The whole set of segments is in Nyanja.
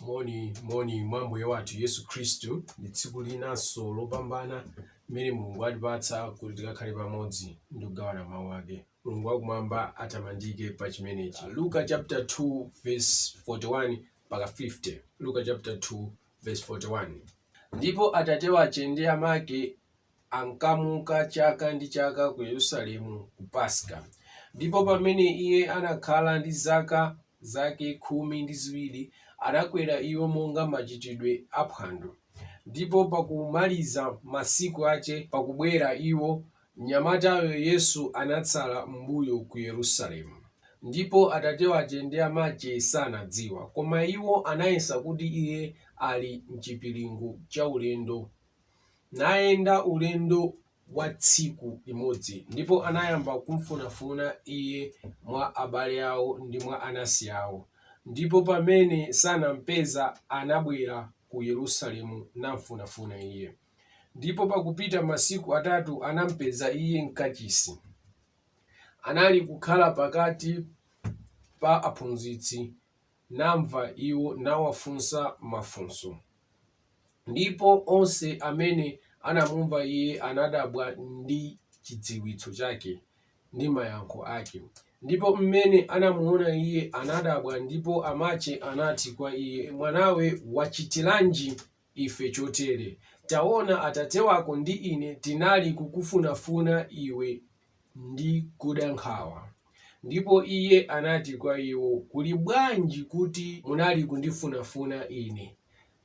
moni moni mwa mbuye wathu yesu khristu ndi tsiku linanso lopambana mmene mulungu atipatsa kuti tikakhale pamodzi ndi kugawana mawu ake mulungu wakumwamba atamandike pa chimenechi luka chapter 2 verse 41 mpaka 50 luka chapter 2 verse 41 ndipo atate wache ndi amake ankamuka chaka ndi chaka ku Yerusalemu ku Paska. Ndipo pamene iye anakhala ndi zaka zake khumi ndi ziwiri, anakwera iwo monga machitidwe a phwando. Ndipo pakumaliza masiku ache, pakubwera iwo, mnyamatayo Yesu anatsala m'mbuyo ku Yerusalemu, ndipo atate wache ndi amache sanadziwa, koma iwo anayesa kuti iye ali m'chipiringu cha ulendo nayenda ulendo wa tsiku limodzi, ndipo anayamba kumfunafuna iye mwa abale awo ndi mwa anansi awo, ndipo pamene sanampeza, anabwera ku Yerusalemu namfunafuna iye. Ndipo pakupita masiku atatu anampeza iye m'kachisi, anali kukhala pakati pa aphunzitsi namva iwo, nawafunsa mafunso. Ndipo onse amene anamumva iye anadabwa ndi chidziwitso chake, ndi mayankho ake. Ndipo m'mene anamuona iye, anadabwa, ndipo amache anati kwa iye, Mwanawe, wachitiranji? ife chotere, Taona, atate wako ndi ine tinali kukufunafuna iwe ndi kuda nkhawa. Ndipo Iye anati kwa iwo, Kuli bwanji kuti munali kundifunafuna Ine?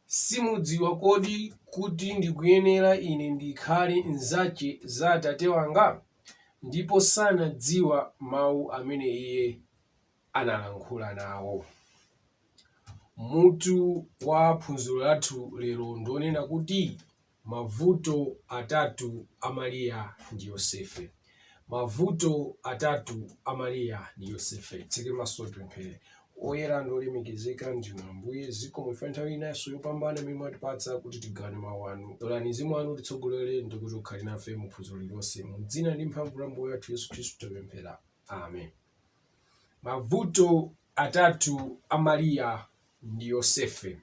Simudziwa kodi kuti ndikuyenera Ine ndikhale m'zache za Atate wanga? Ndipo sanadziwa mau amene Iye. analankhula nawo. Mutu wa phunziro lathu lero ndi lonena kuti, Mavuto Atatu a Mariya ndi Yosefe. Mavuto Atatu a Mariya ndi Yosefe. Titseke maso tipemphere. Woyera ndi wolemekezeka ndinu Ambuye, zikomo chifukwa nthawi inanso yopambana imene mwatipatsa kuti tigawane mawu anu. Lolani mzimu wanu utitsogolere ndi kuti ukhale nafe mu phunziro lililonse. Mu dzina ndi mphamvu la Ambuye wathu Yesu Khristu tapemphera. Amen. Mavuto atatu a Mariya ndi Yosefe.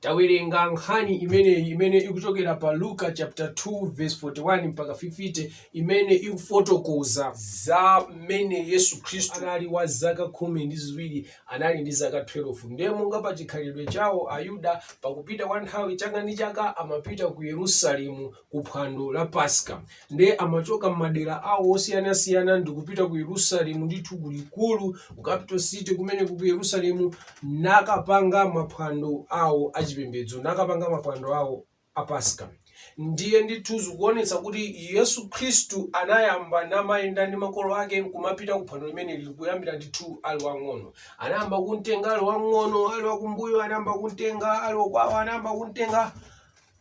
Tawerenga nkhani imeneyi imene ikuchokera pa Luka chapter 2 verse 41 mpaka 50 imene ikufotokoza za mmene Yesu Khristu anali wa zaka khumi ndi ziwiri, anali ndi zaka 12. Ndiye monga pa chikhalidwe chawo Ayuda, pakupita kwa nthawi chaka ndi chaka amapita ku Yerusalemu kuphwando la Paska nde amachoka m'madera awo osiyanasiyana ndikupita ku Yerusalemu ndithu kulikulu ku capital city kumene ku Yerusalemu nakapanga maphwando awo achipembedzo nakapanga maphwando awo a Paska ndiye ndithu zikuonetsa kuti Yesu Khristu anayamba namayenda ndi makolo ake nkumapita ku phwando limeneli kuyambira ndithu ali wang'ono anayamba kumtenga ali wang'ono ali wakumbuyo anayamba kumtenga ali wakwawo anayamba kumtenga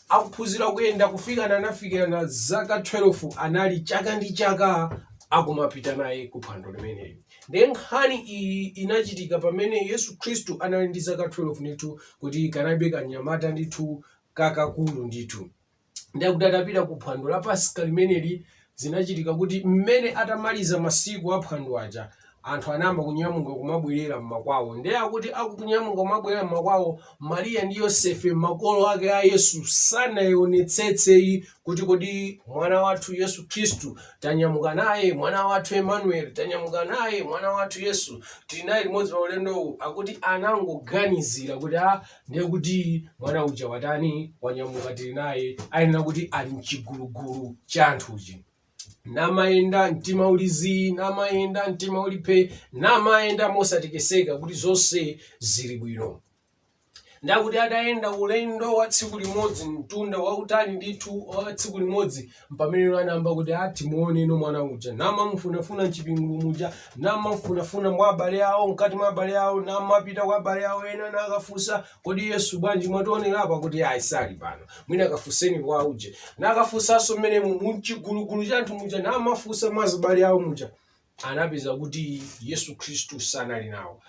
akuphunzira kuyenda kufikana anafikirana zaka 12 anali chaka ndi chaka akumapita naye ku phwando limeneli ndiye nkhani iyi inachitika pamene yesu khristu anali ndi zaka 12 ndithu kuti kanalibe kanyamata ndithu kakakulu ndithu ndiye kuti atapita ku phwando la pasika limeneli Zinachitika kuti mmene atamaliza masiku a phwando aja anthu anayamba kunyamuka kumabwerera mmakwawo. Nde akuti akunyamuka kumabwerera mmakwawo Maria ndi Yosefe makolo ake a Yesu sanaonetsetse ayi kuti kodi mwana wathu Yesu Khristu tanyamuka naye, mwana wathu Emmanuel tanyamuka naye, mwana wathu Yesu tili naye limodzi pa ulendowu akuti anangoganizira kuti aah ndiye kuti mwana uja watani wanyamuka tili naye ayenera kuti ali mchigulugulu cha anthuchi namayenda mtima uli zii namayenda mtima uli phe namayenda mosatekeseka kuti zonse zili bwino nde akuti adayenda ulendo wa tsiku limodzi mtunda wautali ndithu wa tsiku limodzi mpamene iwo anayamba kuti atimuone no mwana uja namamufunafuna mchigulu muja namamufunafuna mwa abale awo mkati mwa abale awo namapita kwa abale awo ena nakafunsa kodi yesu bwanji mwationera apa kuti ayi sali pano mwina akafunseni kwa uje nakafunsanso mmene mumchigulugulu cha anthu muja namafunsa mwa abale awo muja anapeza kuti yesu khristu sanali nawo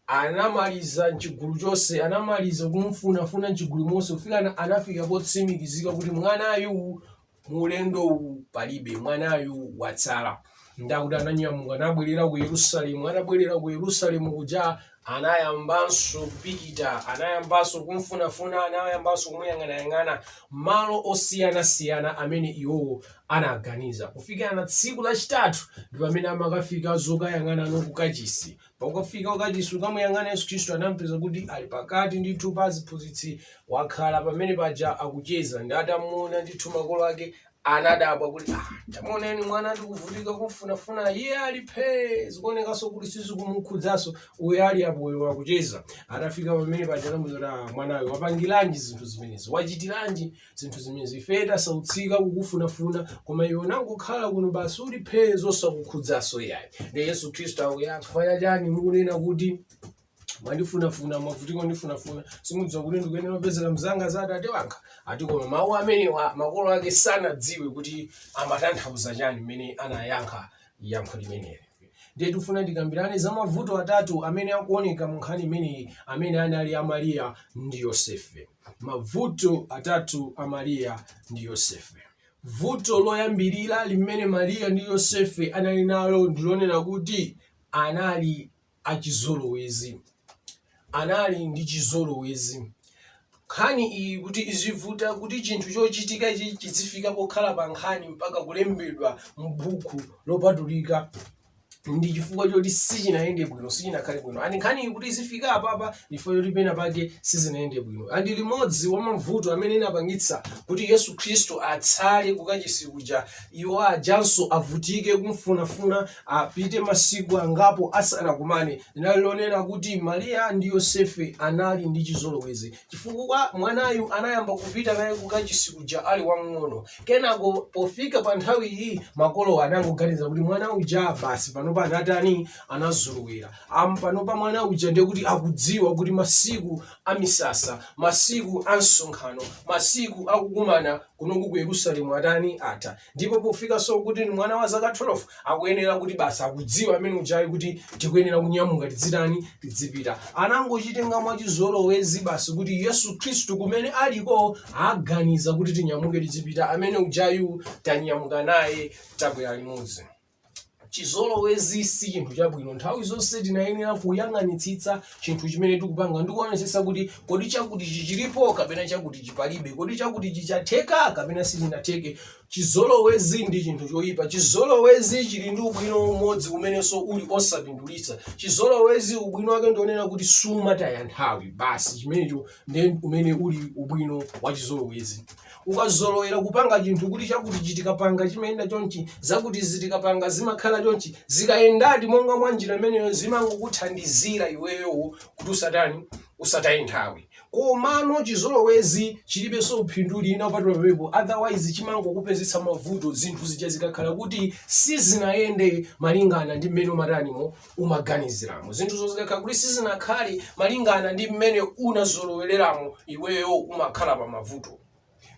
Anamaliza m'chigulu chonse, anamaliza kumufunafuna m'chigulu monse kufikana anafika potsimikizika kuti mwanayu mu ulendowu palibe, mwanayu watsala. Ndiye kuti ananyamuka nabwerera ku Yerusalemu, atabwerera ku Yerusalemu kuja anayambanso kupita, anayambanso kumfunafuna, anayambanso kumuyang'anayang'ana malo osiyanasiyana amene iwowo anaganiza, kufikana tsiku lachitatu ndi pamene amakafika zokayang'ana no kukachisi. Pokafika kukachisi kukamuyang'ana Yesu Khristu anampeza kuti ali pakati ndithu pa aziphunzitsi wakhala pamene paja akucheza ndi atamuona ndithu makolo ake anadabwa kuti ah, tamuoneni mwana tikuvutika kumfunafuna iye ali phee zikuonekanso kuti sizikumukhudzaso uyo ali apoyo akucheza atafika pamene paja anamuza kuti ah, mwanawe wapangiranji zinthu zimenezi wachitiranji zinthu zimene ife tasautsika kukufunafuna koma iwe unangokhala kuno basi uli phee zosakukhudzanso ayi ndi yesu khristu akuyankha chifukwa chani mukunena kuti mwandifunafuna mwavutika kundifunafuna simudziwa kuti ndikuyenera kupezeka m'za za atate wanga ati koma mawu amenewa makolo ake sanadziwe kuti amatanthauza chani mmene anayankha yankho limeneli ndiye tifuna tikambirane za mavuto atatu amene akuoneka mu nkhani imeneyi amene anali a mariya ndi yosefe Mavuto Atatu a Mariya ndi Yosefe. Vuto loyambirira limene Mariya ndi Yosefe anali nalo ndi lonena kuti anali achizolowezi. Anali ndi chizolowezi. Nkhani iyi kuti izivuta, kuti chinthu chochitika ichi chizifika pokhala pa nkhani mpaka kulembedwa m'buku lopatulika, ndi chifukwa choti sichinayende bwino sichinakhale bwino and nkhani kuti izifika apapa chifukwa choti pena pake sizinayende bwino and limodzi mwa mavuto amene anapangitsa kuti yesu khristu atsale kukachisi kuja iwo ajanso avutike kumfunafuna apite masiku angapo asanakumane linali lonena kuti mariya ndi yosefe anali ndi chizolowezi chifukwa mwanayu anayamba kupita naye kukachisi kuja ali wamng'ono kenako pofika pa nthawi iyi makolowa anangoganiza kuti mwana uja basi panopa anatani anazolowera and panopa mwana uja ndiye kuti akudziwa kuti masiku a misasa masiku a msonkhano masiku akukumana kunoku ku yerusalemu atani atha ndipo pofikanso kuti ndi mwana wa zaka 12 akuyenera kuti basi akudziwa amene ujayu kuti tikuyenera kunyamuka tidzitani tidzipita anangochitenga mwachizolowezi basi kuti yesu khristu kumene aliko aganiza kuti tinyamuke tidzipita amene ujayu tanyamuka naye tabwera limodzi chizolowezi si chinthu chabwino nthawi zonse timayenera kuyang'anitsitsa chinthu chimene tikupanga ndikuonetsetsa kuti kodi chakutichi chilipo kapena chakutichi palibe kodi chakutichi chatheka kapena sichinatheke chizolowezi ndi chinthu choyipa chizolowezi chili ndi ubwino umodzi umenenso uli osapindulitsa chizolowezi ubwino wake ndi wonena kuti sumataya nthawi basi chimenecho ndi umene uli ubwino wa chizolowezi ukazolowera kupanga chinthu kuti chakutichi tikapanga chimayenda chonchi zakutizi tikapanga zimakhala chonchi zikayendadi monga mwa njira imeneyo zimangokuthandizira iweyo kuti usatani usataye nthawi komano chizolowezi chilibenso phindu lina kupatula apo otherwise chimangokupezetsa mavuto zinthu zija zikakhala kuti sizinayende malingana ndi mmene umatanimo umaganiziramo zinthuzo zikakhala kuti sizinakhale malingana ndi mmene unazolowereramo iweyo umakhala pa mavuto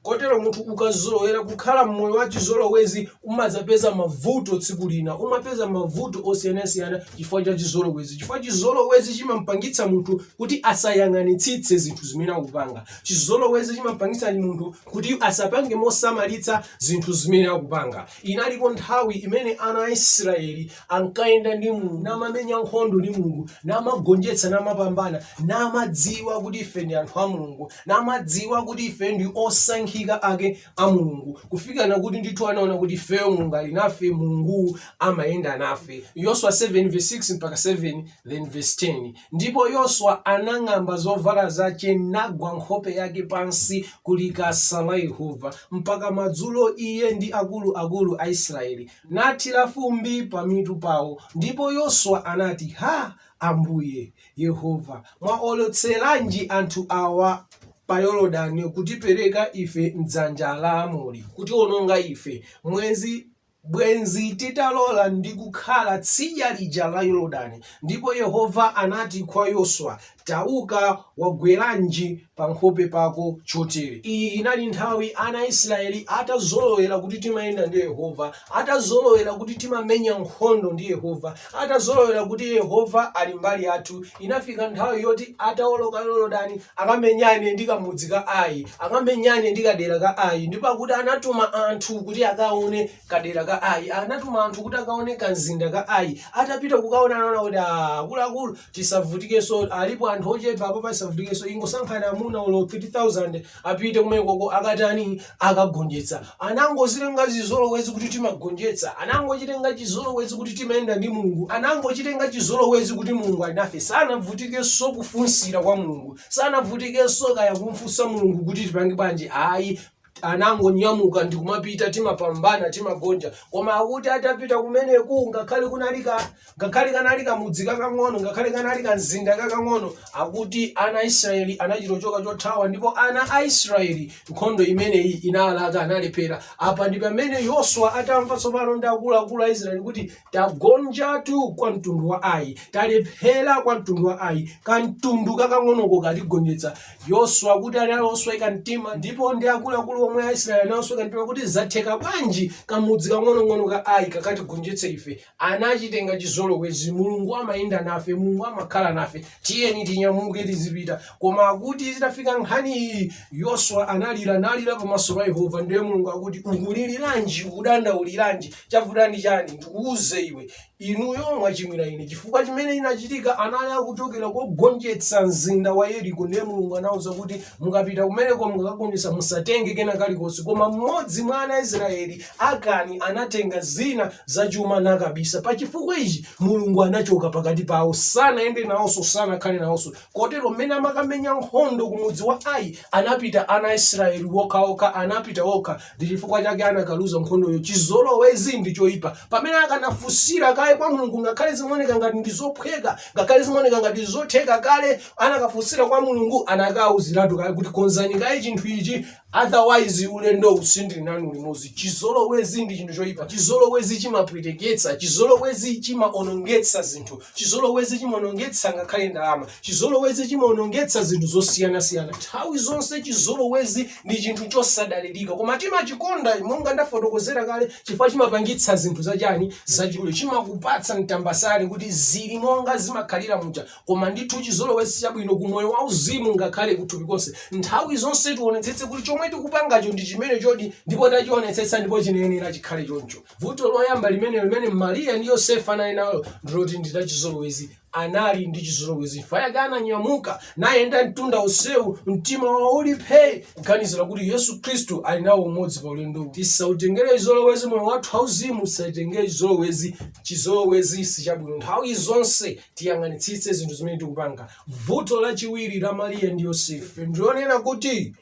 kotero munthu ukazolowera kukhala mmoyo wa chizolowezi umadzapeza mavuto tsiku lina umapeza mavuto osiyanasiyana chifukwa cha chizolowezi chifukwa chizolowezi chimampangitsa munthu kuti asayang'anitsitse zinthu zimene akupanga chizolowezi chimampangitsa munthu kuti asapange mosamalitsa zinthu zimene akupanga Inaliko nthawi imene ana a Israeli ankayenda ndi Mulungu, namamenya nkhondo ndi Mulungu, namagonjetsa, namapambana, namadziwa kuti ife ndi anthu a Mulungu, namadziwa kuti ife ndi osankhika ake a Mulungu, kufika na kuti ndithu anaona kuti ifeyo Mulungu ali nafe, Mulungu amayenda nafe. Yoswa 7 verse 6 mpaka 7 then verse 10. Ndipo Yoswa anang'amba zovala zace, nagwa nkhope yake pansi ku likasa la Yehova, mpaka madzulo, iye ndi akulu akulu a Israyeli, nathira fumbi pamitu pao, ndipo Yoswa anati, Ha! Ambuye, Yehova, mwaolotseranji anthu awa pa Yordani kutipereka ife m'dzanja la Aamori, kutiononga ife, mwenzi Bwenzi titalola ndi kukhala tsidya lija la Yorodani. Ndipo Yehova anati kwa Yoswa, Tauka, wagweranji pa nkhope pako chotere? Iyi inali nthawi ana a Israeli atazolowera kuti timayenda ndi Yehova, atazolowera kuti timamenya nkhondo ndi Yehova, Atazolowera kuti Yehova ali mbali yathu, inafika nthawi yoti atawoloka Yorodani akamenyane ndi kamudzi ka Ai, akamenyane ndi kadera ka Ai. Ndipo akuti anatuma anthu kuti akaone kadera ka Ai, anatuma anthu kuti akaone kamzinda ka Ai. Atapita kukaona anaona kuti "Ah, akuluakulu tisavutikenso, alipo anthu ochepa apa, tisavutikenso, ingosankha amuna olo 3,000 Apite kumenekoko akatani? Akagonjetse. Anangozitenga chizolowezi kuti timagonjetsa. Anangochitenga chizolowezi kuti timayenda ndi Mulungu. Anangochitenga chizolowezi kuti Mulungu ali nafe. Sanavutikenso kufunsira kwa Mulungu. Sanavutikenso kaya kumfunsa Mulungu kuti tipange bwanji. Ayi, anangonyamuka ndi kumapita, timapambana, timagonja. Koma akuti atapita kumeneku, ngakhale kunali ka ngakhale kanali kamudzi kakang'ono ngakhale kanali kamzinda kakang'ono akuti ana a israeli anachitochoka chothawa ndipo ana a israeli nkhondo imeneyi inalaka analephera apa ndi pamene yoswa atamva tsopano ndi akuluakulu a israeli kuti tagonjatu kwa mtundu wa ai talephera kwa mtundu wa ai kamtundu kakang'onoko katigonjetsa yoswa akuti anali osweka mtima ndipo ndi akuluakulu omwe a israeli anasweka mtima kuti zatheka bwanji kamudzi kakang'onong'ono ka ai kakatigonjetse ife anachitenga chizolowezi, Mulungu amayenda nafe, Mulungu amakhala nafe, tiyeni tinyamuke tizipita. Koma akuti zitafika nkhani iyi, Yoswa analira nalira pamaso pa Yehova, ndiye Mulungu akuti ukuliliranji, ukudandauliranji, chavuta ndi chani? Ndikuuze iwe, inuyo mwachimwira ine, chifukwa chimene chinachitika anali akuchokera kogonjetsa mzinda wa Yeriko, ndiye Mulungu anauza kuti mukapita kumeneko mukakagonjetsa musatenge kena kalikonse, koma mmodzi mwa ana a Israeli Akani anatenga zina za chuma nakabisa. Pa chifukwa ichi, Mulungu anachoka pakati pawo, sanayende nawonso, sanakhale nawonso. Kotero, m'mene amakamenya nkhondo ku mudzi wa Ai, anapita ana a Israyeli wokhawokha, anapita wokha, ndi chifukwa chake anakaluza nkhondoyo. Chizolowezi ndi choipa. Pamene akanafunsira kaye kwa Mulungu, ngakhale zimaoneka ngati ndi zophweka, ngakhale zimaoneka ngati zotheka kale, anakafunsira kwa Mulungu, anakawauziratu kaye kuti konzani kaye chinthu ichi, Otherwise ulendowu sindili nanu limodzi. Chizolowezi ndi chinthu choipa. Chizolowezi chimapweteketsa. Chizolowezi chimaonongetsa zinthu. Chizolowezi chimaonongetsa ngakhale ndalama. Chizolowezi chimaonongetsa zinthu zosiyanasiyana. Nthawi zonse chizolowezi ndi chinthu chosadalirika. Koma timachikonda monga ndafotokozera kale chifukwa chimapangitsa zinthu zachiyani zachidule. Chimakupatsa mtambasale kuti zili monga zimakhalira muja. Koma ndithu chizolowezi sichabwino ku moyo wauzimu ngakhale kuthupi konse. Nthawi zonse tionetsetse kuti chomwe tikupangacho ndi chimenechodi ndipo tachionetsetsa ndipo chimayenera chikhale choncho. Vuto loyamba limene limene Maria ndi Yosefe anali nalo ndiloti ndi lachizolowezi anali ndi chizolowezi chifukwa chake ananyamuka nayenda mtunda onsewu mtima wawo uli phee kuganizira kuti yesu khristu ali nawo limodzi pa ulendo tisatengere chizolowezi moyo wathu wauzimu usatengere chizolowezi chizolowezi sichabwino nthawi zonse tiyang'anitsitse zinthu zimene tikupanga vuto lachiwiri la mariya ndi yosefe ndilonena kuti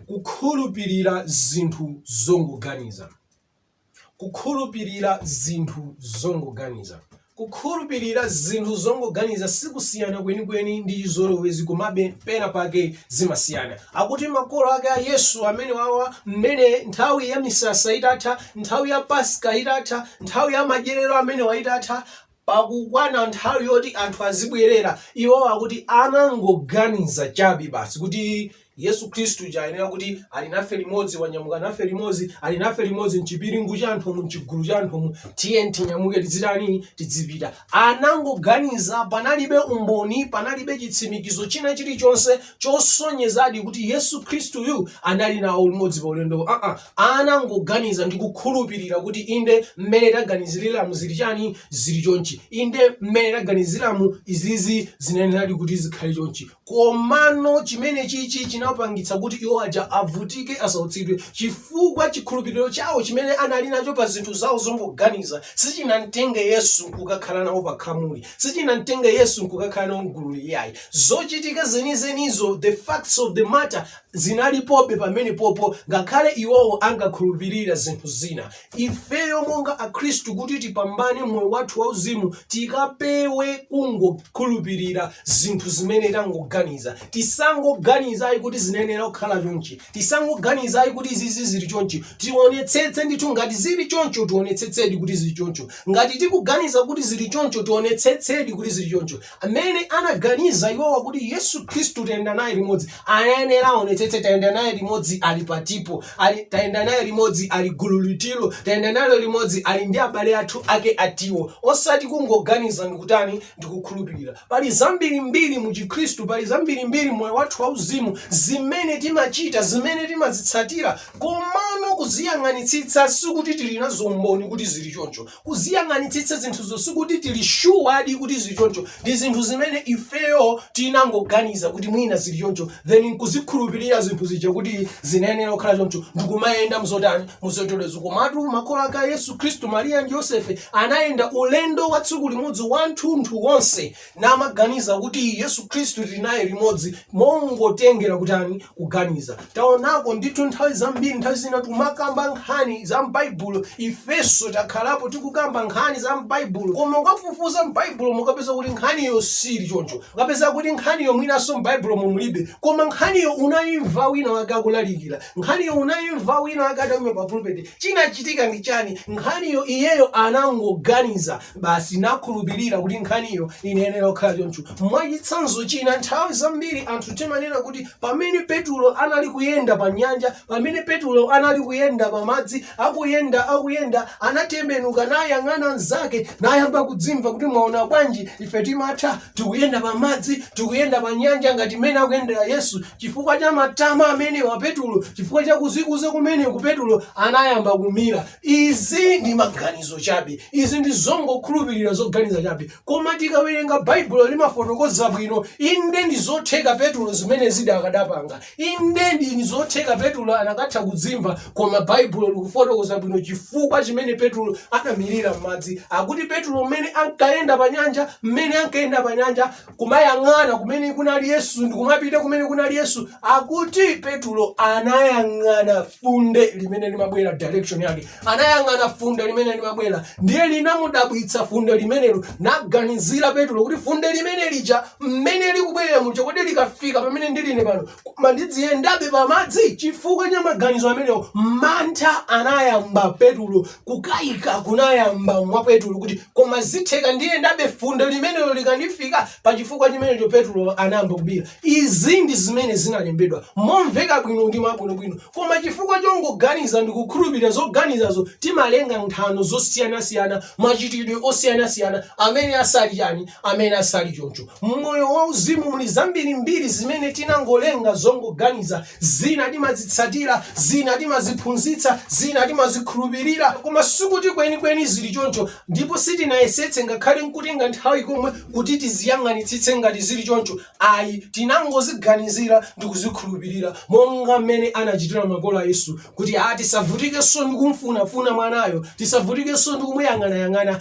kukhulupirira zinthu zongoganiza kukhulupirira zinthu zongoganiza kukhulupirira zinthu zongoganiza sikusiyana kwenikweni ndi chizolowezi komabe pena pake zimasiyana akuti makolo ake a yesu amenewawa mmene nthawi ya misasa itatha nthawi ya paska itatha nthawi ya madyerero amenewa itatha Pakukwana nthawi yoti anthu azibwerera, iwo akuti anangoganiza chabe basi kuti Yesu Khristu uja ayenera kuti ali nafe limodzi, wanyamuka nafe limodzi, ali nafe limodzi m'chipiringu cha anthumu, m'chigulu cha anthumu, tiyeni tinyamuke tidzitani, tidzipita. Anangoganiza, panalibe umboni, panalibe chitsimikizo china chilichonse chosonyezadi kuti Yesu Kristuyu anali nawo limodzi pa ulendowu. Aa, anangoganiza ndi kukhulupirira kuti inde mmene taganiziriramu zili chani zili chonchi, inde mmene taganiziramu izizi zinayeneradi kuti zikhale chonchi. Komano chimene chichi chinapangitsa kuti iwo aja avutike asautsidwe chifukwa chikhulupiriro chawo chimene anali nacho pa zinthu zawo zongoganiza sichinamtenge Yesu nkukakhala nawo pa khamuli. Sichinamtenge Yesu nkukakhala nawo m'gululi iyayi. Zochitika zenizenizo, the facts of the matter, zinalipobe pamenepopo ngakhale iwowo ankakhulupirira zinthu zina. Ifeyo monga Akhristu kuti tipambane m'moyo wathu wauzimu tikapewe kungokhulupirira zinthu zimene tangoganiza. Tisangoganiza ayi kuti zinayenera kukhala chonchi. Tisangoganiza ayi kuti izizi zili chonchi. Tionetsetse ndithu ngati zili choncho tionetsetsedi kuti zili choncho. Ngati tikuganiza kuti zili choncho, tionetsetsedi kuti zili choncho. Amene anaganiza iwowa kuti Yesu Khristu tayenda naye limodzi, anayenera aonetsetse tayenda naye limodzi ali patipo, tayenda naye limodzi ali gulu litilo, tayenda nalo limodzi ali ndi abale athu ake atiwo. Osati kungoganiza ndikutani, ndikukhulupirira pali zambirimbiri mu chikhristu pali zambirimbiri m'moyo wathu wauzimu zimene timachita zimene timazitsatira komano kuziyang'anitsitsa sikuti tili nazo umboni kuti zili choncho kuziyang'anitsitsa zinthuzo sikuti tili shuwadi kuti zili choncho ndi zinthu zimene ifeyo tinangoganiza kuti mwina zili choncho then nkuzikhulupirira zinthu zija kuti zinayenera kukhala choncho ndikumayenda muzotani Muzonterezo komatu makolo ake a Yesu Kristu, Mariya ndi Yosefe, anayenda ulendo wa tsiku limodzi wanthunthu wonse namaganiza kuti Yesu Kristu tiri naye limodzi mongotengera kutani? Kuganiza. Taonako ndithu nthawi zambiri, nthawi zina tikumakamba nkhani za m'Baibulo, ifenso takhalapo tikukamba nkhani za m'Baibulo, koma ukafufuza m'Baibulo mo ukapeza kuti nkhaniyo siili choncho. Ukapeza kuti nkhaniyo mwinanso m'Baibulomo mulibe, koma nkhaniyo unaimva wina wake akulalikira, Nkhaniyo unaimva wina ake ataima pa pulpit, chinachitika ndi chani? Nkhaniyo iyeyo anangoganiza basi nakhulupirira kuti nkhaniyo inayenera kukhala choncho. Mwachitsanzo china, nthawi zambiri anthu timanena kuti pamene Petulo anali kuyenda pa nyanja, pamene Petulo anali kuyenda pa madzi, akuyenda, akuyenda, anatembenuka nayang'ana mnzake nayamba kudzimva kuti mwaona bwanji, ife timatha, tikuyenda pa madzi, tikuyenda pa nyanja ngati mmene akuyendera Yesu. Chifukwa cha matama amenewa Petulo, chifukwa cha kuzikuza kumeneku Petulo anayamba kumira. Izi ndi maganizo chabe, izi ndi zongokhulupirira zoganiza chabe, koma tikawerenga Baibulo limafotokoza bwino. Inde ndi zotheka Petulo zimenezidi akadapanga, inde ndi zotheka Petulo akanatha kudzimva, koma Baibulo likufotokoza bwino chifukwa chimene Petulo anamirira m'madzi. Akuti Petulo mmene ankayenda pa nyanja, mmene ankayenda pa nyanja kumayang'ana kumene kunali yesu ndikumapita kumene kunali yesu akuti petulo anayang'ana funde limene limabwera direction yake anayang'ana funde limene limabwera ndiye linamudabwitsa funde limenelo anaganizira petulo kuti funde limene lija mmene likubwerera muja kodi likafika pamene ndili ine pano koma ndidziyendabe pamadzi chifukwa cha maganizo amenewo mantha anayamba petulo kukayika kunayamba mwa petulo kuti koma zitheka ndiyendabe funde limenelo likandifika pa chifukwa chimenecho petulo anayamba kumira izi ndi zimene zinalembedwa momveka bwino ndi mwabwinobwino Koma chifukwa chongoganiza ndi kukhulupirira zoganizazo timalenga nthano zosiyanasiyana, machitidwe osiyanasiyana amene asali chani, amene asali choncho. M'moyo wa uzimu muli zambirimbiri zimene tinangolenga zongoganiza, zina timazitsatira, zina timaziphunzitsa, zina timazikhulupirira koma sikuti kwenikweni zili choncho ndipo sitinayesetse ngakhale nkutenga nthawi komwe kuti tiziyang'anitsitse ngati zili choncho. Ayi, tinangoziganizira ndi kuzikhulupirira, monga mmene anachitira makolo a Yesu, kuti a, tisavutikenso ndi kumfunafuna mwanayo, tisavutikenso ndi kumuyang'anayang'ana.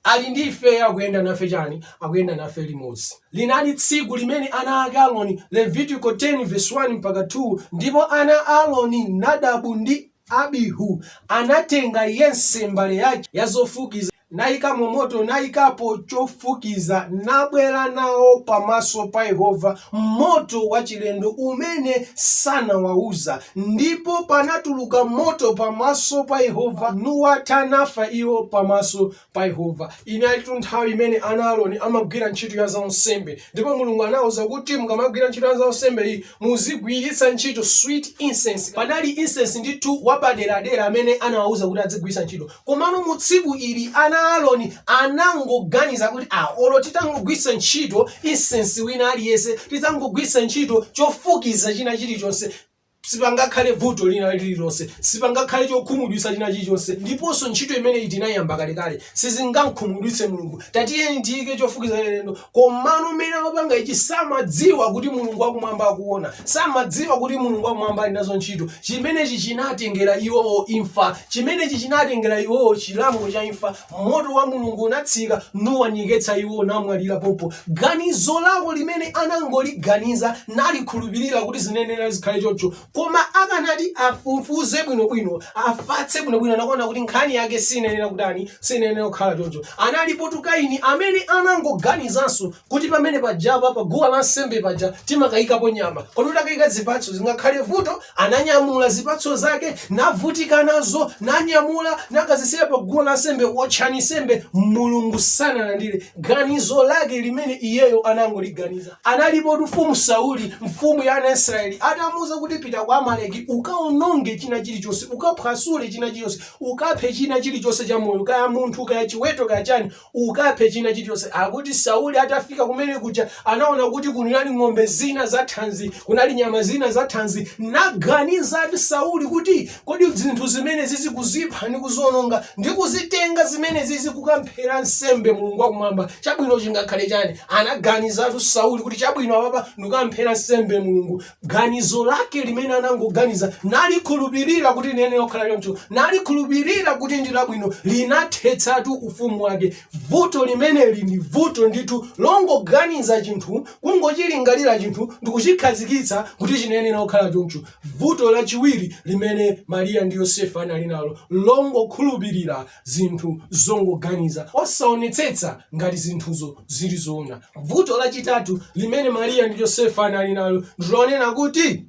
Ali ndi ifeyo, akuyenda nafe chani? Akuyenda nafe limodzi. Linali tsiku limene ana ake Aroni, Levitiko 10 vesi 1 mpaka 2, ndipo ana a Aroni, Nadabu ndi Abihu, anatenga yense mbale yake ya zofukiza, naikamo moto, naikapo chofukiza, nabwera nawo pamaso pa Yehova moto wachilendo umene sanawauza. Ndipo panatuluka moto pamaso pa Yehova, nuwatha, nafa iwo pamaso pa Yehova. Inalitu nthawi imene ana a Aroni amagwira ntchito ya zaunsembe, ndipo Mulungu anawauza kuti mukamagwira ntchito ya zaunsembe iyi muzigwiritsa ntchito sweet incense. Panali incense ndithu wapaderadera amene anawauza kuti adzigwiritsa ntchito. Komano mu tsiku ili ana a Aroni anangoganiza kuti a, olo titangogwiritsa ntchito insensi wina aliyense, titangogwiritsa ntchito chofukiza china chilichonse, sipangakhale vuto lina lililonse, sipangakhale chokhumudwitsa china chilichonse, ndiponso ntchito imeneyi tinayiyamba kalekale, sizingam'khumudwitse Mulungu, tatiyeni tiyike chofukiza chachilendo komano mmene amapanga ichi samadziwa kuti mulungu wakumwamba akuona samadziwa kuti mulungu wakumwamba ali nazo ntchito chimenechi chinatengera iwowo imfa chimenechi chinatengera iwowo chilango cha imfa moto wa mulungu unatsika nuwanyeketsa iwo namwalira pompo ganizo lawo limene anangoliganiza nalikhulupirira kuti zinayenera zikhale choncho Koma akanati afufuze bwino bwino, afatse bwino bwino anakuona kuti nkhani yake sinayenera kutani, sinayenera kukhala choncho. Analipotu Kaini amene anangoganizanso kuti pamene pajapa pa guwa la nsembe paja timakayikapo nyama. Kodi utakayika zipatso zingakhale vuto? Ananyamula zipatso zake, navutika nazo, nanyamula, nakazisiya pa guwa la nsembe, wotchani nsembe, Mulungu sanalandire ganizo lake limene iyeyo anangoliganiza. Analipotu Mfumu Sauli, mfumu ya ana a Israeli, atamuuza kuti pita kwa Amaleki ukaononge china chilichonse, ukaphwasule china chilichonse, ukaphe china chilichonse cha moyo, kaya munthu, kaya chiweto, kaya chani, ukaphe china chilichonse. Akuti Sauli atafika kumene kuja anaona kuti kunali ng'ombe zina za thanzi, kunali nyama zina za thanzi, naganiza ati Sauli kuti Kodi zinthu zimenezizi kuzipha ndi kuziononga, ndi kuzitenga zimenezizi kukamphera nsembe Mulungu wa Kumwamba, chabwino chingakhale chani? Anaganizatu Sauli kuti chabwino apapa ndikukamphera nsembe Mulungu. Ganizo lake limene anangoganiza, nalikhulupirira kuti liyenera kukhala choncho, nalikhulupirira kuti ndi labwino, linathetsatu ufumu wake. Vuto limeneli ndi vuto ndithu longoganiza chinthu, kungochilingalira chinthu ndikuchikhazikitsa kuti chinayenera kukhala choncho. Vuto lachiwiri limene Mariya ndi Yosefe anali nalo n'longokhulupirira zinthu zongoganiza, osaonetsetsa ngati zinthuzo zili zoona. Vuto lachitatu limene Mariya ndi Yosefe anali nalo ndi lonena kuti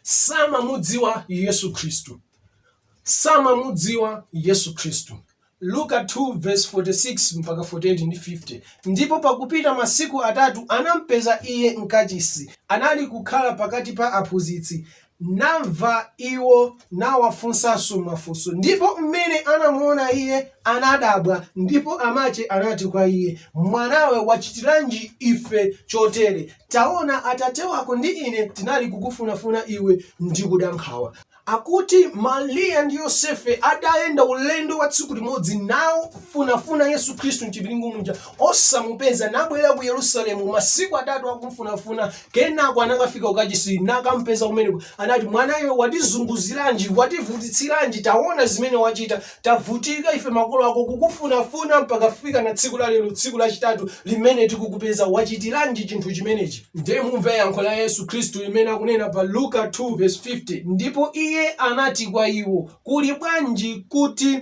samamudziwa Yesu Khristu. Samamudziwa Yesu Khristu. Luka 2 vs 46 mpaka 48 ndi 50, Ndipo pakupita masiku atatu anampeza Iye m'kachisi, anali kukhala pakati pa aphunzitsi, namva iwo nawafunsanso mafunso. Ndipo m'mene anamuona Iye, anadabwa, ndipo amache anati kwa Iye, Mwanawe, wachitiranji ife chotere? Taona, atate wako ndi ine tinali kukufunafuna Iwe ndi kuda nkhawa. Akuti Mariya ndi Yosefe adayenda ulendo wa tsiku limodzi namufunafuna Yesu Khristu mchipiringu muja osamupeza nabwera ku Yerusalemu masiku atatu akumfunafuna kenako anakafika kukachisi nakampeza kumeneko anati mwana iwe watizunguziranji wativutitsiranji taona zimene wachita Tavutika ife makolo ako kukufunafuna mpaka kufika na tsiku la lero tsiku lachitatu limene tikukupeza wachitiranji chinthu chimenechi? Ndiye mumve yankho la Yesu Khristu limene akunena pa Luka 2 vesi 50, Ndipo Iye anati kwa iwo, Kuli bwanji kuti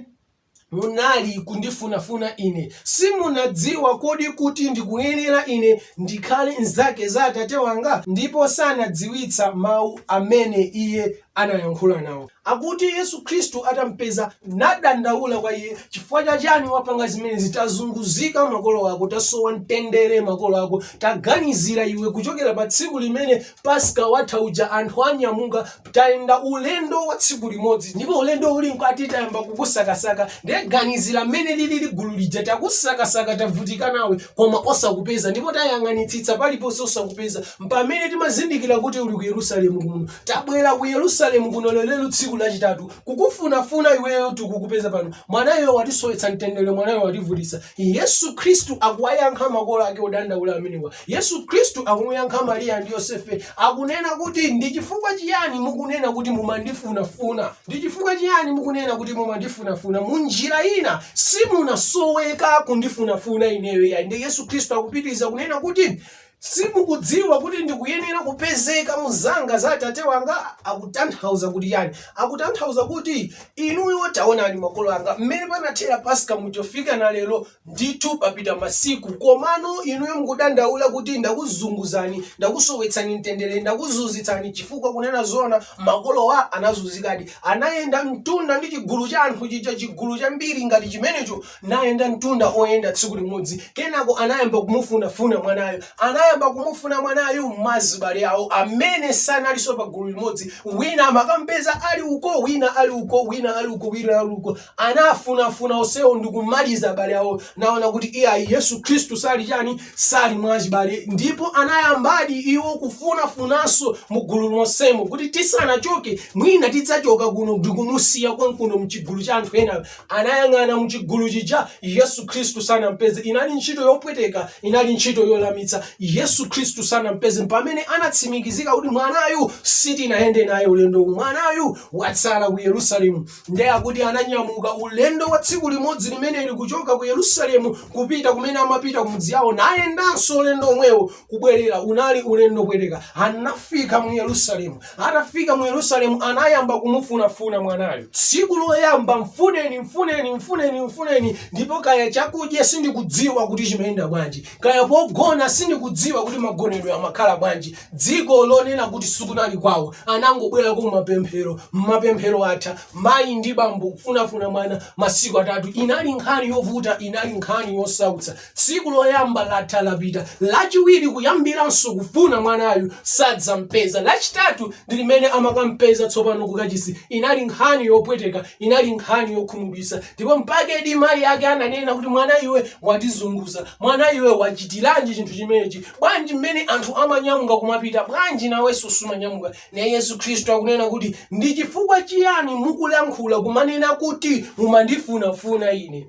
munali kundifunafuna Ine? Simunadziwa kodi kuti ndikuyenera Ine ndikhale m'zake za Atate wanga? Ndipo sanadziwitsa mau amene Iye anayankhula nawo. Akuti Yesu Khristu atampeza nadandaula kwa iye, chifukwa cha chani wapanga zimenezi tazunguzika makolo ako tasowa mtendere makolo ako taganizira iwe kuchokera pa tsiku limene paska watha uja anthu anyamuka tayenda ulendo wa tsiku limodzi ndipo ulendo uli mkati tayamba kukusakasaka ndiye ganizira mmene lilili gulu lija takusakasaka tavutika nawe koma osakupeza ndipo tayang'anitsitsa paliponse osakupeza m'pamene timazindikira kuti uli ku yerusalemu kuno Tabwera ku Yerusalemu kuno lelelo tsiku lachitatu kukufunafuna iweyo tikukupeza pano. Mwanawe watisowetsa mtendere mwanawe wativutitsa. Yesu Khristu akuwayankha makolo ake odandaula amenewa. Yesu Khristu akumuyankha Mariya ndi Yosefe akunena kuti ndi chifukwa chiyani mukunena kuti mumandifunafuna? Ndi chifukwa chiyani mukunena kuti mumandifunafuna? Mu njira ina simunasoweka kundifunafuna ineyo iyayi. Ndi Yesu Khristu akupitiriza kunena kuti Simukudziwa kuti ndikuyenera kupezeka mu zake za Atate wanga? Akutanthauza kuti chani? Akutanthauza kuti inuyo taonani makolo anga mmene panathera Paska muchofika na lero ndithu papita masiku komano inuyo mukudandaula kuti ndakuzunguzani, ndakusowetsani mtendere, ndakuzunzitsani chifukwa kunena zoona makolowa anazunzikadi. Anayenda mtunda ndi chigulu cha anthu chija, chigulu chambiri ngati chimenecho. nayenda mtunda oyenda tsiku limodzi kenako anayamba kumufunafuna mwanayo anayamba kumufuna mwanayu mwa azibale awo amene sanalinso pa gulu limodzi wina amakampeza ali uko wina ali uko wina ali uko wina ali uko anafunafuna onsewo ndikumaliza abale awo naona kuti iyayi yesu khristu sali chani sali mwachibale ndipo anayambadi iwo kufunafunanso mu gulu lonsemo kuti tisanachoke mwina tidzachoka kuno ndikumusiya konkuno mchigulu cha anthu ena anayang'ana mu chigulu chija, Yesu Khristu sanampeze. Inali ntchito yopweteka, inali ntchito yolemetsa. Yesu Khristu sanampeze. Pamene anatsimikizika kuti mwanayu sitinayende naye ulendo uwu, mwanayu watsala ku Yerusalemu, ndiye akuti ananyamuka ulendo wa tsiku limodzi limeneli kuchoka ku Yerusalemu kupita kumene amapita kumudzi yawo, nayendanso ulendo omwewo kubwerera unali ulendo wopweteka anafika mu yerusalemu atafika mu yerusalemu anayamba kumufunafuna mwanayo tsiku loyamba mfuneni mfuneni mfuneni mfuneni ndipo kaya chakudya sindikudziwa kuti chimayenda bwanji kaya pogona sindikudziwa kuti magonedwe amakhala bwanji dziko lonena kuti sikunali kwawo anangobwera ku mapemphero mapemphero atha mayi ndi bambo kufunafuna mwana masiku atatu inali nkhani yovuta inali nkhani yosautsa Tsiku loyamba latha lapita, lachiwiri kuyambiranso kufuna mwanayu sadzampeza, lachitatu ndi limene amakampeza tsopano kukachisi. Inali nkhani yopweteka, inali nkhani yokhumudwitsa ndipo mpakedi mayi ake ananena kuti mwana iwe watizunguza, mwana iwe wachitiranji chinthu chimenechi, bwanji mmene anthu amanyamuka kumapita bwanji nawenso sumanyamuka? Naye Yesu Khristu akunena kuti ndi chifukwa chiyani mukulankhula kumanena kuti mumandifunafuna ine?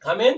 Amen.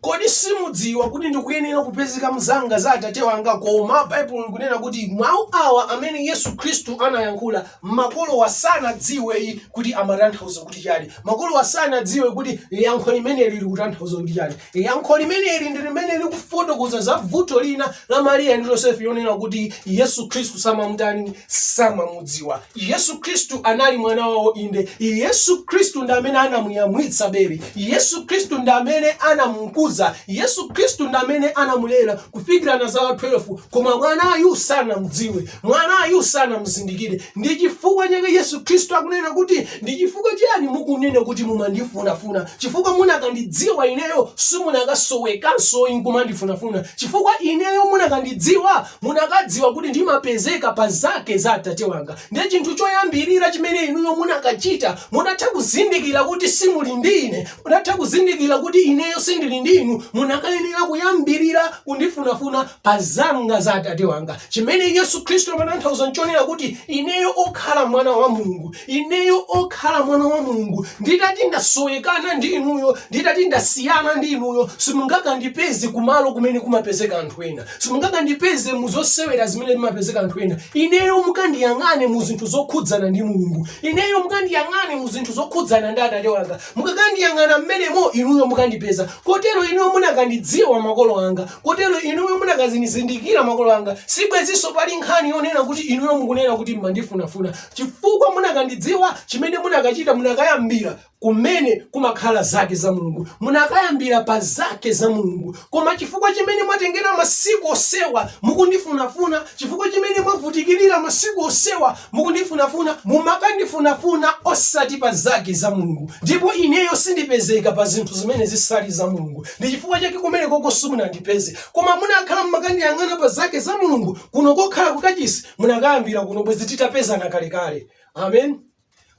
kodi simudziwa kuti ndikuyenera kupezeka mu zanga za atate wanga koma baibulo likunena kuti mawu awa amene yesu khristu anayankhula makolowa sanadziwe kuti amatanthauza kuti chani makolowa sanadziwe kuti yankho limeneli likutanthauza kuti chani yankho limeneli ndi limene likufotokoza za vuto linanso la mariya ndi yosefe yonena kuti yesu khristu samamutani samamudziwa Yesu Khristu anali mwana wawo inde. Yesu Khristu ndi amene anamuyamwitsa bere. Yesu Khristu ndi amene anamukuza. Yesu Khristu ndi amene anamulera kufikira na zaka 12. Koma mwanayu sanamdziwe. Mwanayu sanamzindikire. Ndi chifukwa chake Yesu Khristu akunena kuti, ndi chifukwa chiyani mukunena kuti mumandifunafuna? Chifukwa munakandidziwa ineyo simunakasowekanso nkumandifunafuna. Chifukwa ineyo munakandidziwa munakadziwa kuti ndimapezeka pa zake za Atate wanga. Ndiye chinthu choyambirira chimene inuyo munakachita, mutatha kuzindikira kuti simuli ndi ine, mutatha kuzindikira kuti ineyo sindili ndi inu, munakayenera kuyambirira kundifunafuna pa zanga za Atate wanga. Chimene Yesu Khristu amatanthauza nchonena kuti ineyo okhala mwana wa Mulungu, ineyo okhala mwana wa Mulungu, nditati ndasowekana ndi inuyo, nditati ndasiyana ndi inuyo, simungakandipeze kumalo kumene kumapezeka anthu ena. Simungakandipeze mu zosewera zimene zimapezeka anthu ena. Ineyo mukandiyang'ane mu zinthu zokhudzana ndi Mulungu. Ineyo mukandiyang'ane mu zinthu zokhudzana ndi Atate wanga. Mukakandiyang'ana mmenemo, inuyo mukandipeza. Kotero inuyo munakandidziwa makolo anga. Kotero inuyo munakandizindikira makolo anga. Sibwenzinso pali nkhani yonena kuti inuyo mukunena kuti m'mandifunafuna. Chifukwa munakandidziwa, chimene munakachita, munakayambira kumene kumakhala zake za Mulungu. Munakayambira pa zake za Mulungu, koma chifukwa chimene mwatengera masiku osewa mukundifunafuna, chifukwa chimene mwavutikirira masiku osewa mukundifunafuna, mumakandifunafuna osati pa zake za Mulungu, ndipo ineyo sindipezeka pa zinthu zimene zisali za Mulungu. Ndi chifukwa chake kumeneko simunandipeze, koma munakhala mumakandiyang'ana pa zake za Mulungu, kuno kokhala kukachisi munakayambira kuno, bwezi titapezana kalekale. Amen.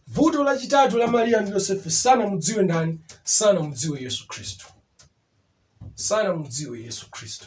Vuto lachitatu la Mariya ndi Yosefe, sanamudziwe ndani? Sanamudziwe Yesu Khristu, sanamudziwe Yesu Khristu.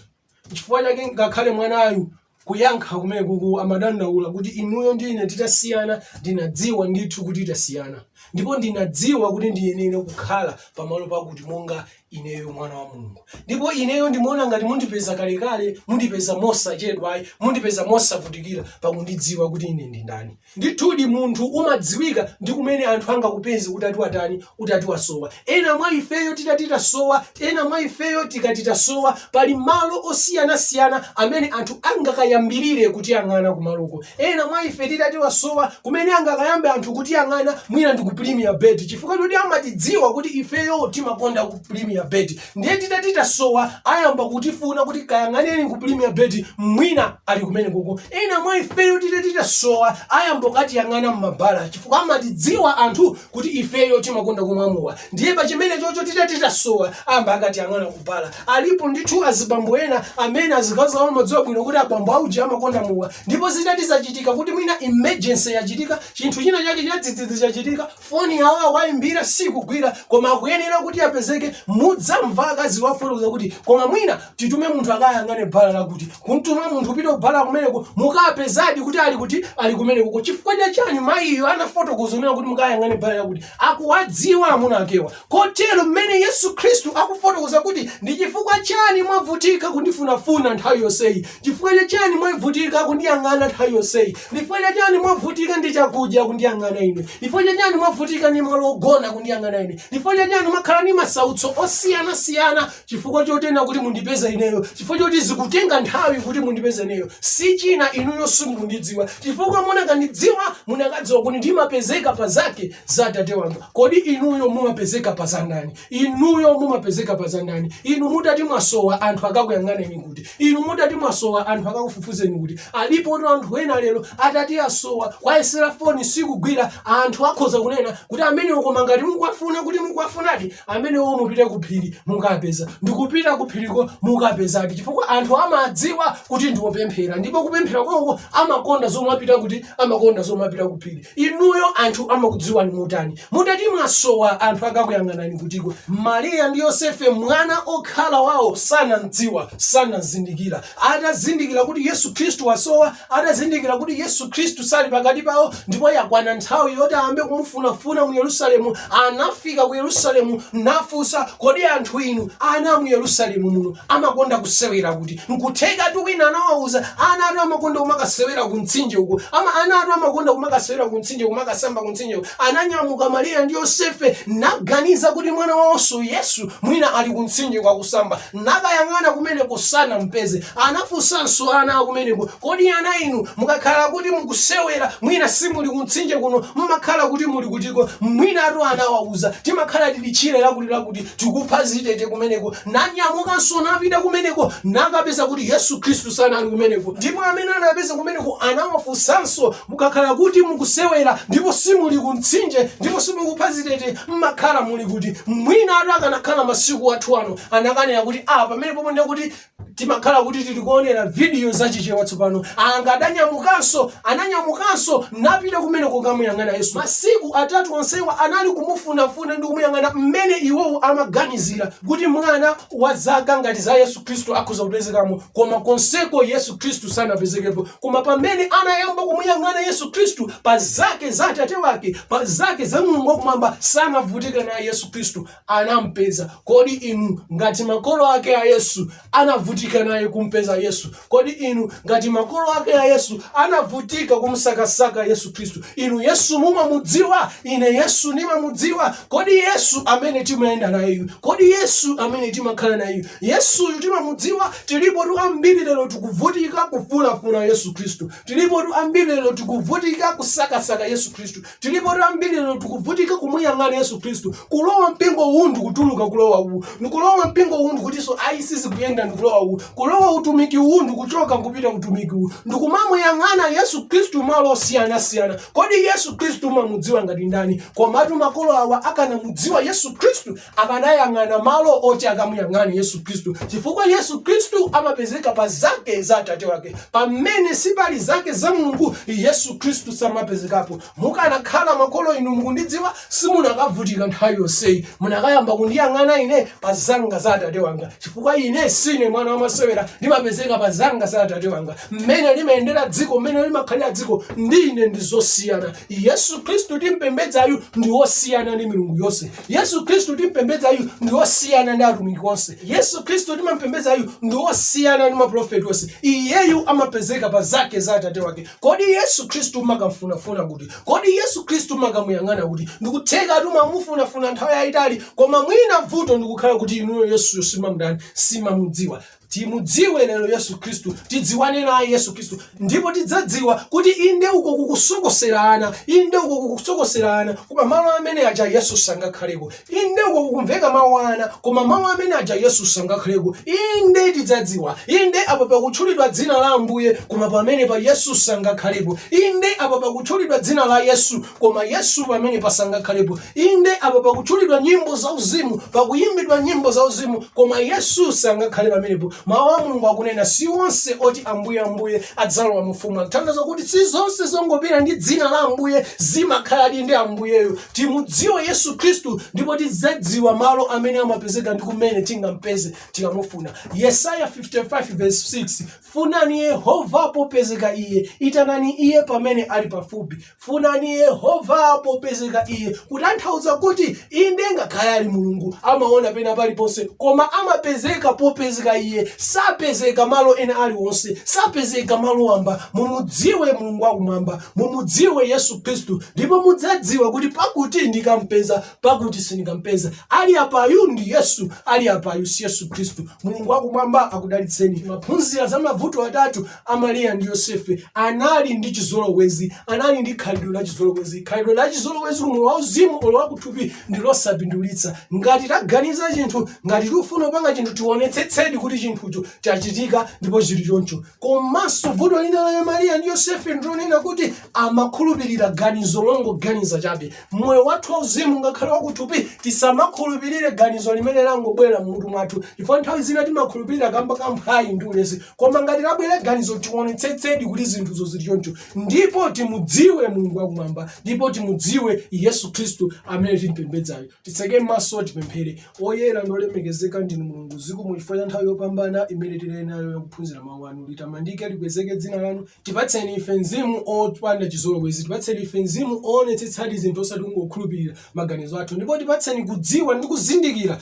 Chifukwa chake ngakhale mwanayu kuyankha kumene kuku amadandaula kuti inuyo ndi ine titasiyana, ndinadziwa ndithu kuti tasiyana, ndipo ndinadziwa kuti ndiyenera kukhala pamalo pakuti monga ineyo mwana wa Mulungu, ndipo ineyo ndimaona ngati mundipeza kalekale, mundipeza mosachedwayi, mundipeza mosavutikira pakundidziwa kuti ine ndi ndani. Ndithudi munthu umadziwika ndi kumene anthu angakupeze utati watani, utati wasowa. Ena mwa ifeyo titati tasowa, ena mwa ifeyo titati tasowa, pali malo osiyanasiyana amene anthu angakayambirire kutiyang'ana kumaloko. Ena mwa ife titati wasowa, kumene angakayambe anthu kutiyang'ana mwina ndi ku Premier Bet chifukwa choti amatidziwa kuti ifeyo timakonda ku Premier Bet. ndiye titati tasowa ayamba kutifuna kuti kayang'aneni ku premier bet mwina ali kumene koko ena mwa ifeyo titati tasowa ayamba kukatiyang'ana mmabala chifukwa amatidziwa anthu kuti ifeyo timakonda kumwa mowa ndiye pachimene chocho titati tasowa ayamba akatiyang'ana kubala alipo ndithu azibambo ena amene azikazi awo amadziwa bwino kuti abambo auji amakonda mowa ndipo zitati zachitika kuti mwina emergency yachitika chinthu china chake chadzidzidzi chachitika Foni yawo akawaimbira sikugwira koma akuyenera kuti apezeke mudzamva akaziwo akufotokoza kuti koma mwina titume munthu akayang'ane bala lakuti. Kumtuma munthu kupita kubala kumeneko mukapezadi kuti ali kuti? Ali kumenekoko chifukwa cha chani? Mayiyo anafotokoza kunena kuti mukayang'ane bala lakuti. Akuwadziwa amuna akewa. Kotero mmene Yesu Khristu akufotokoza kuti ndi chifukwa chani mwavutika kundifunafuna nthawi yonseyi, chifukwa cha chani mwavutika kundiyang'ana nthawi yonseyi, chifukwa cha chani mwavutika ndi chakudya kundiyang'ana ine, chifukwa cha chani mwavutika ndi malo ogona kundiyang'ana ine, chifukwa cha chani mwakhala ndi masautso osiyanasiyana chifukwa chonena kuti mundipeza ineyo, chifukwa choti zikutenga nthawi kuti mundipeza ineyo, si china inuyo simukundidziwa, chifukwa munakandidziwa munakadziwa kuti ndimapezeka pa zake za Atate wanga. Kodi inuyo mumapezeka pa za ndani? Inuyo mumapezeka pa za ndani? Inu mutati mwasowa anthu akakuyang'aneni kuti? Inu mutati mwasowa anthu akakufufuzeni kuti? Alipotu anthu ena lero atati asowa kuwayesera foni sikugwira, anthu akhoza kunena kuti amenewo koma ngati mukuwafuna kuti mukuwafunadi, amenewo mupite ku phiri mukapeza. Ndikupita ku phiriko mukapezadi chifukwa anthu amadziwa kuti ndi opemphera ndipo kupemphera kwawoko amakonda zomapita kuti amakonda zomapita ku phiri. Inuyo anthu amakudziwani motani? Mutati mwasowa anthu akakuyang'anani kutiko? Mariya ndi Yosefe mwana okhala wawo sanamdziwa, sanamzindikira. Atazindikira kuti Yesu Khristu wasowa, atazindikira kuti Yesu Khristu sali pakati pawo ndipo yakwana nthawi yoti ayambe kumufunafuna mu Yerusalemu, anafika ku Yerusalemu nafunsa, Kodi anthu inu, ana a mu Yerusalemu muno, amakonda kusewera kuti? Nkuthekatu wina anawauza, ana atu amakonda kumakasewera ku mtsinje uku. Ama, ana atu amakonda kumakasewera ku mtsinje, kumakasamba ku mtsinje uku. Ananyamuka Mariya ndi Yosefe naganiza kuti mwana wawonso Yesu mwina ali ku mtsinje koka kusamba. Nakayang'ana kumeneko sanampeze. Anafunsanso ana akumeneko, kodi ana inu mukakhala kuti mukusewera mwina simuli ku mtsinje kuno mmakhala kuti muli kutiko? Mwina atu anawauza, timakhala tili tchire lakuti lakuti tikupha zitete kumeneko Nanyamukanso napita kumeneko, nakapeza kuti Yesu Khristu sanali kumeneko. Ndipo amene anapeza kumeneko anawafunsanso, Mukakhala kuti mukusewera, ndipo simuli ku mtsinje, ndipo simukupha zitete, m'makhala muli kuti? Mwinatu akanakhala masiku athu ano, anakanena kuti, Ah, pamenepopo ndiye kuti timakhala kuti tili koonera vidiyo za Chichewa tsopano. Angadanyamukanso Ananyamukanso napita kumeneko kukamuyang'ana Yesu. Masiku atatu onsewa anali kumufunafuna ndi kumuyang'ana mmene iwowo amaganizira kuti mwana wa zaka ngati za Yesu Khristu akhoza kupezekamo, koma konseko Yesu Khristu sanapezekepo. Koma pamene anayamba kumuyang'ana Yesu Khristu, pa zake za Atate wake, pa zake za Mulungu wakumwamba, sanavutike naye Yesu Khristu. anampeza. Kodi inu ngati makolo ake a Yesu anavutika naye kumpeza Yesu? Kodi inu ngati makolo ake a Yesu anavutika kumsakasaka Yesu Khristu? Inu Yesu mumamudziwa? Ine Yesu ndimamudziwa. Kodi Yesu amene timayenda nayeyu? Kodi Yesu amene timakhala nayeyu? Yesuyu timamudziwa? Tilipotu ambiri lero tikuvutika kufunafuna Yesu Khristu. Tilipotu ambiri lero tikuvutika kusakasaka Yesu Khristu. Tilipotu ambiri lero tikuvutika kumuyang'ana Yesu Khristu, kulowa mpingo uwu ndi kutuluka kulowa uwu, ndikulowa mpingo uwu ndikutinso ayi sizikuyenda ndikulowa uwu, kulowa utumiki uwu ndikuchoka nkupita utumiki uwu, ndikumamuyang'ana Yesu Khristu malo osiyanasiyana. Kodi Yesu Khristu umamudziwa ngati ndani? Komatu makolo awa akanamudziwa Yesu Khristu akanayang'ana malo oti akamuyang'ane yesu khristu chifukwa yesu khristu amapezeka pa zake za atate wake pamene sipali zake za mulungu yesu khristu samapezekapo mukanakhala makolo inu mukundidziwa simunakavutika nthawi yonseyi munakayamba kundiyang'ana ine pa zanga za atate wanga chifukwa ine sindine mwana wamasewera ndimapezeka pa zanga za atate wanga mmene limayendera dziko mmene limakhalira dziko ndi ine ndi zosiyana yesu khristu timpembedzayu ndi wosiyana ndi milungu yonse yesu khristu timpembedzayu ndi osiyana ndi atumiki onse yesu khristu timampembedzayu ndi osiyana ndi maprofeti onse iyeyu amapezeka pa zake za atate wake kodi yesu khristu makamfunafuna kuti kodi yesu khristu makamuyang'ana kuti ndikutheka atu mwamufunafuna nthawi yayitali koma mwina vuto ndikukhala kuti inuyo yesuyo simamdani simamudziwa Timudziwe lero Yesu Khristu, tidziwane naye Yesu Khristu, ndipo tidzadziwa kuti inde uko kukusokosera ana, inde uko kukusokosera ana, koma malo amene aja Yesu sangakhaleko. Inde uko kukumveka mawu ana, koma malo amene aja Yesu sangakhaleko. Inde tidzadziwa, inde apo pakutchulidwa dzina la Ambuye, koma pamenepa Yesu sangakhalepo. Inde apo pakutchulidwa dzina la Yesu, koma yesu pamenepa sangakhalepo inde apo pakutchulidwa nyimbo zauzimu pakuyimbidwa nyimbo zauzimu koma yesu sangakhale pamenepo mawu a mulungu akunena si onse oti ambuye ambuye adzalowa mufumu kutanthauza kuti si zonse zongopita ndi dzina la ambuye zimakhaladi ndi ambuyeyo timudziwe yesu khristu ndipo tidzadziwa malo amene amapezeka ndi kumene tingampeze tikamufuna yesaya 55 verse 6 funani yehova popezeka iye itanani iye pamene ali pafupi Funani Yehova popezeka iye, kutanthauza kuti, inde, ngakhale ali Mulungu, amaona pena paliponse, koma amapezeka popezeka iye, sapezeka malo ena aliwonse, sapezeka malo wamba. Mumudziwe Mulungu wakumwamba, mumudziwe Yesu Khristu, ndipo mudzadziwa kuti pakuti ndikampeza, pakuti sindikampeza. Ali apayu ndi Yesu, ali apayu si Yesu Khristu. Mulungu wakumwamba akudalitseni. Timaphunzira za mavuto atatu a Mariya ndi Yosefe anali ndi chizolowezi, anali ndi khalidwe la chizolowezi. Khalidwe la chizolowezi kumoyo wauzimu olo wakuthupi ndi losapindulitsa. Ngati taganiza chinthu, ngati tikufuna kupanga chinthu, tionetsetsedi kuti chinthucho chachitika ndipo chili choncho. Komanso vuto lina la Mariya ndi Yosefe ndilonena kuti amakhulupirira ganizo longoganiza chabe. Moyo wathu wauzimu ngakhale wakuthupi tisamakhulupirire ganizo limene langobwera m'mutu mwathu, chifukwa nthawi zina timakhulupirira kamba ka mphwayi ndi ulesi. koma ngati labwera ganizo tionetsetsedi kuti zinthuzo zili choncho ndipo timudziwe mulungu wakumwamba ndipo timudziwe yesu khristu amene timpembedzayo titseke mmaso tipemphere oyera ndolemekezeka ndinu mulungu zikomo chifukwa cha nthawi yopambana imene tili nayo yakuphunzira mawu anu litamandike likwezeke dzina lanu tipatseni ife mzimu opanda chizolowezi tipatseni ife mzimu oonetsetsadi zinthu osati kungokhulupirira maganizo athu ndipo tipatseni kudziwa ndi kuzindikira